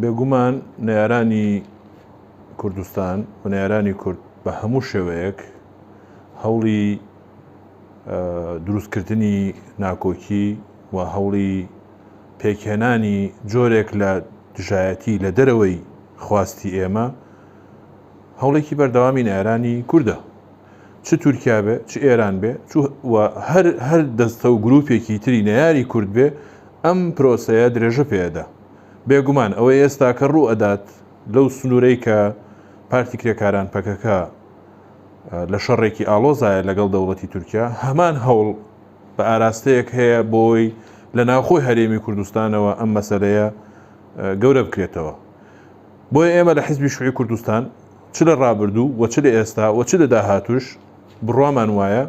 بێگومان نەیارانی کوردستان و نەیارانی کورد بە هەموو شێوەیەک هەوڵی دروستکردنی ناکۆکی و هەوڵی پێکهێنانی جۆرێک لە دژایەتی لە دەرەوەی خواستی ئێمە هەوڵێکی بەردەوامی نەیارانی کوردە چ تورکیا بێ چ ئێران بێ هەر هەر دەستە و گروپێکی تری نەیاری کورد بێ ئەم پرۆسەیە درێژە پێدا بێگومان ئەوەی ئێستاکە ڕوو ئەدات لەو سنوورەی کە پارتی کرێکاران، پەکەکە، لە شەڕێکی ئاڵۆزایە لەگەڵ دەوڵەتی تورکیا، هەمان هەوڵ بە ئاراستەیەک هەیە بۆی لە ناوخۆی هەرێمی کوردستانەوە ئەم مەسەلەیە گەورە بکرێتەوە. بۆیە ئێمە لە حیزبی شوعی کوردستان چ لە ڕابردوو و چ لە ئێستا و چ لە داهاتووش بڕوامان وایە،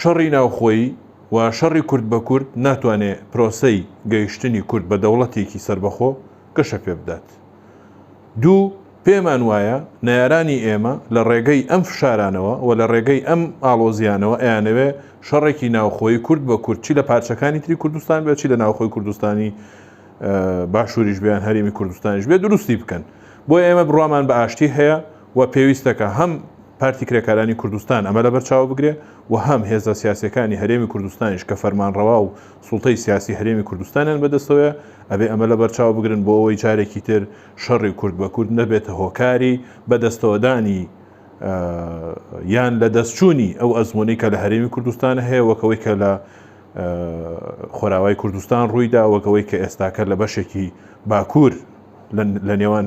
شەڕی ناوخۆیی و شەڕی کورد بە کورد ناتوانێ پرۆسەی گەیشتنی کورد بە دەوڵەتێکی سەربەخۆ گەشە پێ بدات. دوو، پێمان وایە نەیارانی ئێمە لە ڕێگەی ئەم فشارانەوە و لە ڕێگەی ئەم ئاڵۆزییانەوە ئەیانەوێ شەڕێکی ناوخۆیی کورد بە کورد چی لە پارچەکانی تری کوردستان بێ چی لە ناوخۆی کوردستانی باشووریش بێ یان هەرێمی کوردستانیش بێ دروستی بکەن. بۆیە ئێمە بڕوامان بە ئاشتی هەیە و پێویستە کە هەم پارتی کرێکارانی کوردستان ئەمە لەبەرچاو بگرێ و هەم هێزە سیاسیەکانی هەرێمی کوردستانیش کە فەرمانڕەوا و سوڵتەی سیاسی هەرێمی کوردستانیان بەدەستەوەیە ئەبێ ئەمە لەبەرچاو بگرن بۆ ئەوەی جارێکی تر شەڕی کورد بە کورد نەبێتە هۆکاری بەدەستەوەدانی یان لەدەستچوونی ئەو ئەزموونەی کە لە هەرێمی کوردستان هەیە وەک ئەوەی کە لە خۆراوای کوردستان ڕوویدا وەک ئەوەی کە ئێستاکە لە بەشێکی باکوور لە نێوان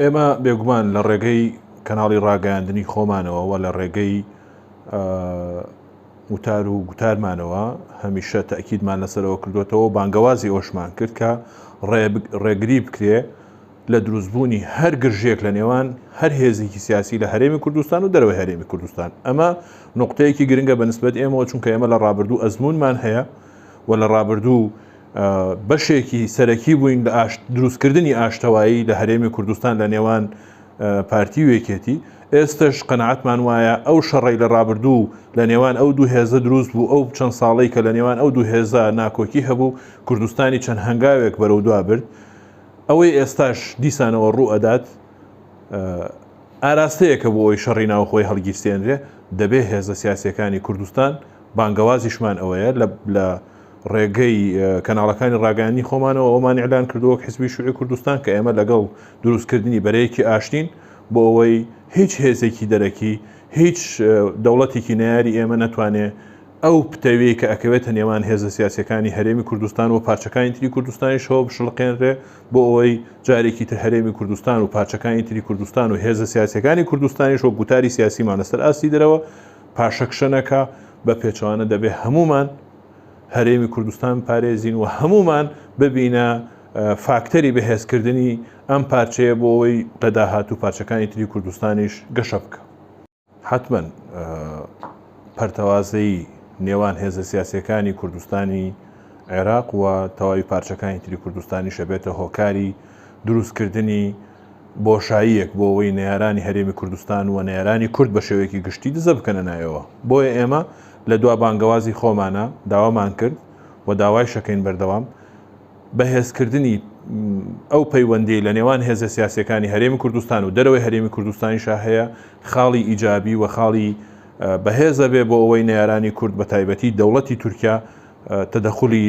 ئێمە بێگومان لە ڕێگەی کەناڵی ڕاگەیاندنی خۆمانەوە و لە ڕێگەی وتار و گوتارمانەوە هەمیشە تاکیدمان لەسەرەوە کردوێتەوە بانگەوازی ئەوشمان کرد کە ڕێگری بکرێ لە دروستبوونی هەر گرژێک لە نێوان هەر هێزێکی سیاسی لە هەرێمی کوردستان و دەرەوەی هەرێمی کوردستان ئەمە نقطەیەکی گرنگە بە نسبەت ئێمەوە چونکە ئێمە لە ڕابردوو ئەزمونمان هەیە و لە ڕابردوو بەشێکی سەرەکی بووین لە دروستکردنی ئاشتەوایی لە هەرێمی کوردستان لە نێوان پارتی و یەکێتی ئێستش قەنەعەتمان وایە ئەو شەڕی لە ڕابردوو لە نێوان ئەو دوو هێزە دروست بوو ئەو چەند ساڵی کە لە نێوان ئەو دوو هێزە ناکۆکی هەبوو کوردستانی چەند هەنگاوێک بەرەو دوا برد ئەوەی ئێستاش دیسانەوە ڕوو ئەدات ئاراستەیەکە بۆ ئەوی شەڕی ناوخۆی هەڵگیرسێنرێ دەبێ هێزە سیاسەکانی کوردستان بانگەوازیشمان ئەوەیە لە ڕێگەی کەناڵەکانی ڕاگەیاندنی خۆمانەوە ئەومان ئیعلان کردو وەک حزبی شوعی کوردستان کە ئێمە لەگەڵ دروستکردنی بەرەیەکی ئاشتین بۆ ئەوەی هیچ هێزێکی دەرەکی هیچ دەوڵەتێکی نەیاری ئێمە نەتوانێ ئەو پتەویەی کە ئەکەوێتە نێوان هێزە سیاسیەکانی هەرێمی کوردستان وپارچەکانی تری کوردستانیشەوە بشڵقێنرێ بۆ ئەوەی جارێکی تر هەرێمی کوردستان و پارچەکانی تری کوردستان و هێزە سیاسیەکانی کوردستانیش وەک گوتاری سیاسیمان لەسەر ئاستی درەوە پاشەکشە نەکا بە پێچەوانە دەبێ هەموومان هەرێمی کوردستان بپارێزین و هەمومان ببینە فاکتەری بەهێزکردنی ئەم پارچەیە بۆ ئەوەی لەداهاتوو پارچەکانی تری کوردستانیش گەشە بکە حتممەن پەرتەوازەی نێوان هێزە سیاسەکانی کوردستانی عێراق و تەواوی پارچەکانی تری کوردستانی شەبێتە هۆکاری دروستکردنی بۆشاییەک بۆ ئەوەی نەیارانی هەرێمی کوردستان و نەیارانی کورد بە شێوەیەکی گشتی دزە بکەنە ناویەوە. بۆیە ئێمە لە دوا بانگەوازی خۆمانا داوامان کرد و داوایشەکەین بەردەوام بەهێزکردنی ئەو پەیوەندیەی لە نێوان هێزە سیاسیەکانی هەرێمی کوردستان و دەرەوەی هەرێمی کوردستانیشا هەیە خاڵی ئیجابی و خاڵی بەهێزە بێ بۆ ئەوەی نەیارانی کورد بە تایبەتی دەوڵەتی تورکیا تەدەخولی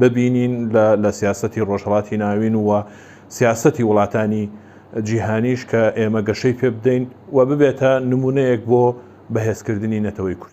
ببینین لە لە سیاسەتی ڕۆژهەڵاتی ناوین و سیاسەتی وڵاتانی جیهانیش کە ئێمە گەشەی پێ بدەین و ببێتە نمونەیەک بۆ بەهێزکردنی نەتەوەی کورد.